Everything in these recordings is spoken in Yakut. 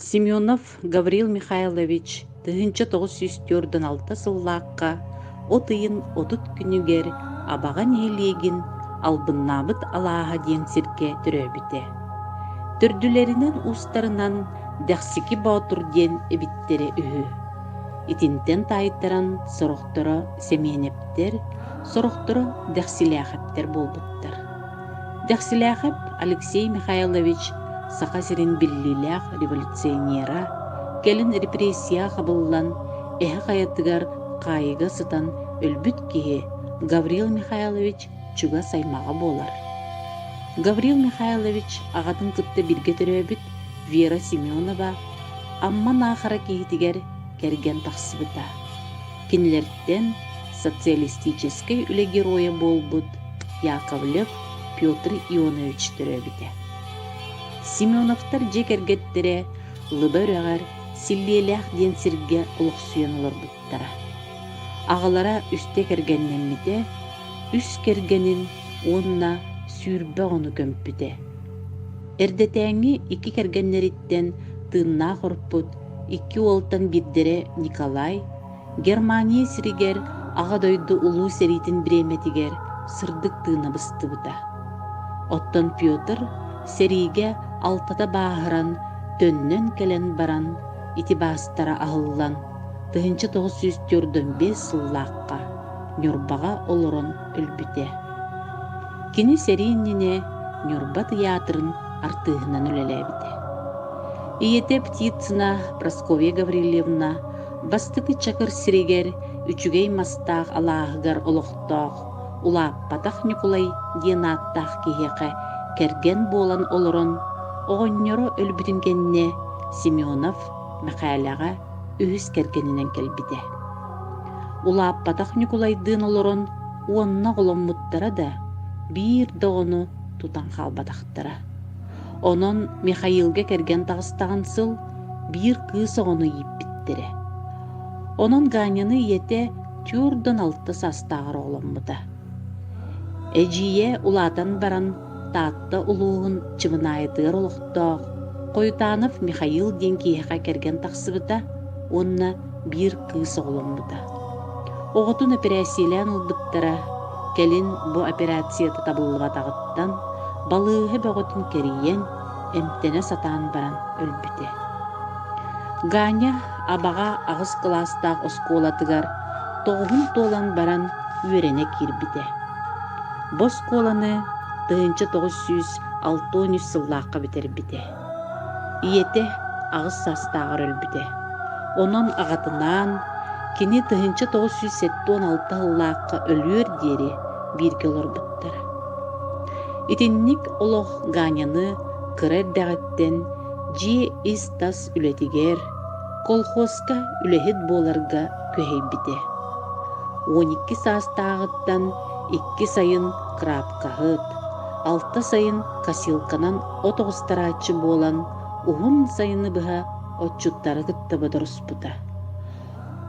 Семенов Гаврил Михайлович тыһыынча тоҕус сүүс түөртүн алта сыллаахха от ыйын отут күнүгэр Абаҕа нэһилиэгин Албыннаабыт алааһа диэн сиргэ төрөөбүтэ. Төрдүлэринэн уустарынан Дэхсики Боотур диэн эбиттэрэ үһү. Итинтэн таайтаран сорохторо Семеновтэр, сорохторо Дэхсилээхэптэр буолбуттар. Дэхсилээхэп Алексей Михайлович Саха сирин биллиилээх революционера, кэлин репрессияҕа хабыллан, эһэ хайатыгар хаайыга сытан өлбүт киһи Гаврил Михайлович чугас аймаҕа буолар. Гаврил Михайлович аҕатын кытта бииргэ төрөөбүт Вера Семенова Амма Наахара киһитигэр кэргэн тахсыбыта. Кинилэртэн социалистическай үлэ геройа буолбут Яковлев Петр Ионович төрөөбүтэ. Семеновтар дьиэ кэргэттэрэ Лыба үрэҕэр Силлиэлээх диэн сиргэ олохсуйан олорбуттара. Аҕалара үстэ кэргэннэммитэ, үс кэргэнин уонна сүүрбэ оҕону көмпүтэ. Эрдэтээҥҥи икки кэргэннэриттэн тыыннаах урпут Икки уолтан биирдэрэ Николай, Германия сиригэр Аҕа дойду Улуу сэриитин бириэмэтигэр сырдык тыына быстыбыта. Оттон Петр сэриигэ алтата бааһыран, төннөн кэлэн баран, ити баастара аһыллан, тыһыынча тоҕус сүүс төрдөн биэс сыллаахха Ньурбаҕа олорон өлбүтэ. Кини сэрии иннинэ Ньурба тыйаатырын артыыһынан үлэлээбитэ. Ийэтэ Птицына Прасковья Гаврильевна бастакы чакыр сиригэр үчүгэй мастаах алааһыгар олохтоох Улааппатах Ньукулай диэн ааттаах киһиэхэ кэргэн буолан олорон, оҕонньоро өлбүтүн кэннэ Семенов Мэхээлэҕэ үһүс кэргэнинэн кэлбитэ. Улааппатах Ньукулайдыын олорон уонна оҕоломмуттара да, биир да оҕону тутан хаалбатахтара. Онон Михаилга кэргэн таҕыстаҕын сыл биир кыыс оҕону ииппиттэрэ. Онон Ганяны ийэтэ түөрт уон алта саастааҕар оҕоломмута. Эдьиийэ улаатан баран Таатта улууһун Чымынаайытыгар олохтоох Хоютанов Михаил диэн киһиэхэ кэргэн тахсыбыта уонна биир кыыс оҕоломмута. Оҕотун эпэрээссийэлээн ылбыттара, кэлин бу операцията табыллыбатаҕыттан балыыһа бөҕөтүн кэрийэн, эмтэнэ сатаан баран өлбүтэ. Ганя Абаҕа аҕыс кылаастаах оскуолатыгар тоҕуһун туолан баран үөрэнэ киирбитэ. Бу оскуоланы тыһыынча тоҕус сүүс алта уон үс сыллаахха бүтэрбитэ. Ийэтэ аҕыс саастааҕар өлбүтэ. Онон аҕатынаан кини тыһыынча тоҕус сүүс сэттэ уон алта сыллаахха өлүөр диэри бииргэ олорбуттар. Итинник олох Ганяны кыра эрдэҕиттэн дьиэ ис-тас үлэтигэр, колхозка үлэһит буоларга күһэйбитэ. Уон икки саастааҕыттан икки сайын крапкаһыт, алта сайын косилканан от оҕустарааччы буолан, уһун сайыны быһа отчуттары кытта бодоруспута.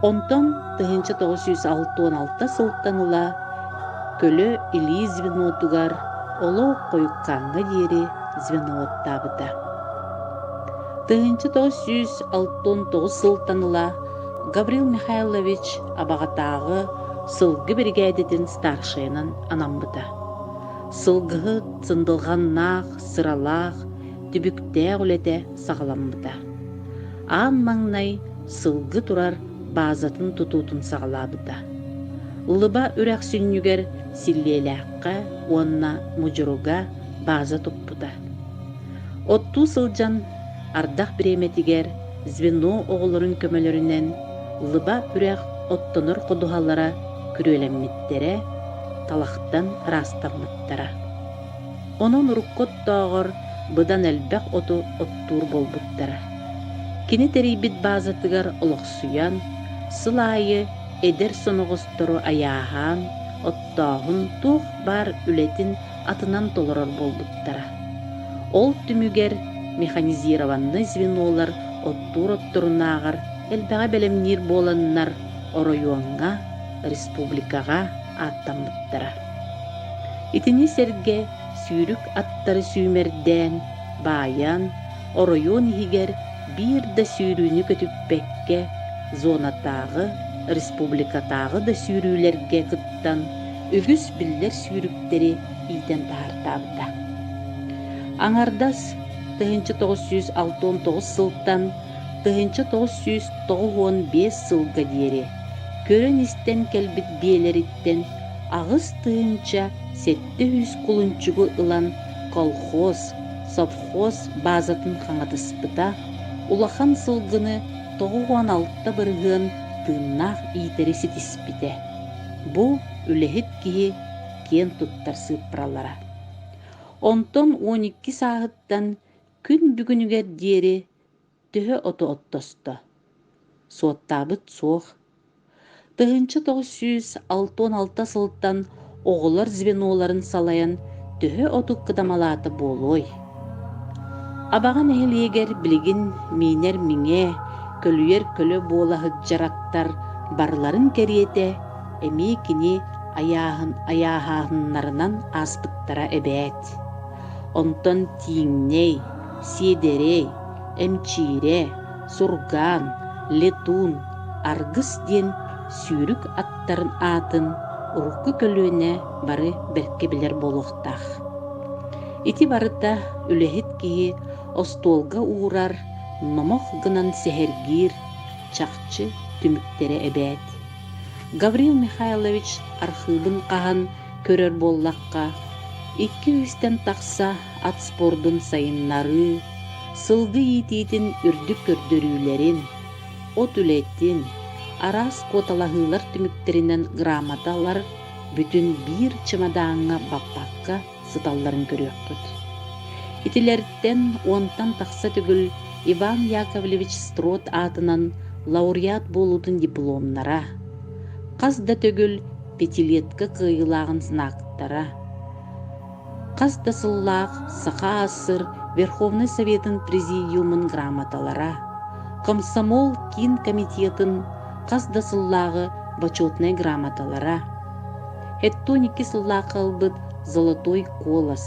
Онтон тыһыынча тоҕус сүүс алта уон алта сылтан ыла көлө илии звенотугар олох хойуккааҥҥа диэри звено уоттаабыта. Тыһыынча тоҕус сүүс алта уон тоҕус сылтан ыла Гаврил Михайлович Абаҕатааҕы сылгы биригээдэтин старшайынан анаммыта. Сылгыһыт сындылҕаннаах, сыралаах, түбүктээх үлэтэ саҕаламмыта. Аан маҥнай сылгы турар баазатын тутуутун саҕалаабыта. Лыба үрэхсүнньүгэр Силлиэлээххэ уонна Мудьуруга бааза туппута. Оттуу сылдьан ардах бириэмэтигэр звено оҕолорун көмөлөрүнэн лыба үрэх оттонор ходуһалара күрүөлэммиттэрэ, талахтан ыраастаммыттара. Онон урукку оттооҕор быдан элбэх оту оттуур буолбуттара. Кини тэрийбит баазатыгар олохсуйан, сыл аайы эдэр соноҕостору айааһаан, оттооһун туох баар үлэтин атынан толорор буолбуттара. Ол түмүгэр механизированнай звенолар оттуур отторунааҕар элбэҕи бэлэмниир буоланнар оройуоҥҥа, республикаҕа ааттаммыттара. Итини сэргэ сүүрүк аттары сүүмэрдээн, баайан, оройуон иһигэр биир да сүүрүүнү көтүппэккэ, зонатааҕы, республикатааҕы да сүүрүүлэргэ кыттан үгүс биллэр сүүрүктэри иитэн таһаартаабыта. Аҥардас тыһыынча тоҕус сүүс алта уон тоҕус сылтан тыһыынча тоҕус сүүс тоҕус уон биэс сылга диэри көрөн-истэн кэлбит биэлэриттэн аҕыс тыһыынча сэттэ сүүс кулунчугу ылан колхоз, совхоз баазатын хаҥатыспыта, улахан сылгыны тоҕус уон алта бырыһыан тыыннаах иитэри ситиспитэ. Бу үлэһит киһи киэн туттар сыыппаралара. Онтон уон икки сааһыттан күн бүгүнүгэр диэри төһө оту оттосто? Суоттаабыт суох. Тыһыынча тоҕус сүүс алта уон алта сылтан оҕолор звеноларын салайан төһө оту кыдамалаата буолуой? Абаҕа нэһилиэгэр билигин миинэр миҥэ, көлүйэр көлө буола сылдьар аттар барыларын кэриэтэ эмиэ кини айааһын айааһаһыннарынан ааспыттара эбээт. Онтон Тииҥнэй, Сиэдэрэй, Эмчиирэ, Сургаан, Летун, Аргыс диэн сүүрүк аттарын аатын урукку көлүөнэ бары бэркэ билэр буолуохтаах Ити барыта үлэһит киһи остуолга уурар номох гынан сэһэргиир чахчы түмүктэрэ эбээт. Гаврил Михайлович архыыбын хаһан көрөр буоллахха, икки-үстэн тахса ат спордун сайыннарыы, сылгы иитиитин үрдүк көрдөрүүлэрин, от үлэтин, араас куоталаһыылар түмүктэринэн грамоталар бүтүн биир чымадааҥҥа баппакка сыталларын көрүөххүт. Итилэртэн уонтан тахса төгүл Иван Яковлевич Строд аатынан лауреат буолуутун дипломнара, хас да төгүл пятилетка кыайыылааҕын знактара, хас да сыллаах Саха АССР Верховнай Советын Президиумун грамоталара, комсомол киин комитетын хас да сыллааҕы Почетнай грамоталара, Хэттон икки сыллаахха ылбыт Золотой колос,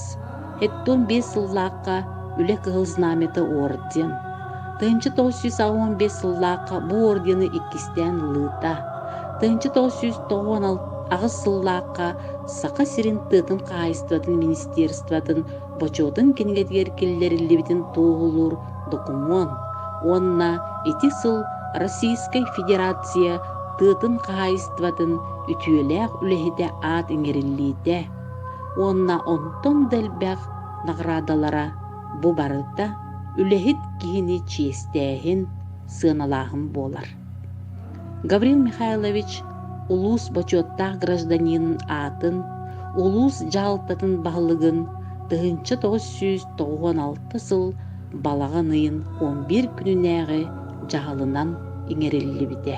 хэттон биэс сыллаахха Үлэ Кыһыл Знамята орден, тыһыынча тоҕус сүүс аҕыан биэс сыллаахха бу ордены иккистээн ылыыта, тыһыынча тоҕус сүүс тоҕуон аҕыс сыллаахха Саха сирин тыатын хаһаайыстыбатын министерствотын бочуотун кинигэтигэр киллэриллибитин туоһулуур докумуон уонна ити сыл Российскай Федерация тыатын хаһаайыстыбатын үтүөлээх үлэһитэ аат иҥэриллиитэ уонна онтон да элбэх наҕараадалара бу барыта үлэһит киһини чиэстээһин, сыаналааһын буолар. Гаврил Михайлович улуус бочуоттаах гражданинын аатын, улуус дьаһалтатын баһылыгын тыһыынча тоҕус сүүс тоҕуон алта сыл балаҕан ыйын он биир күнүнээҕи дьаһалынан иҥэриллибитэ.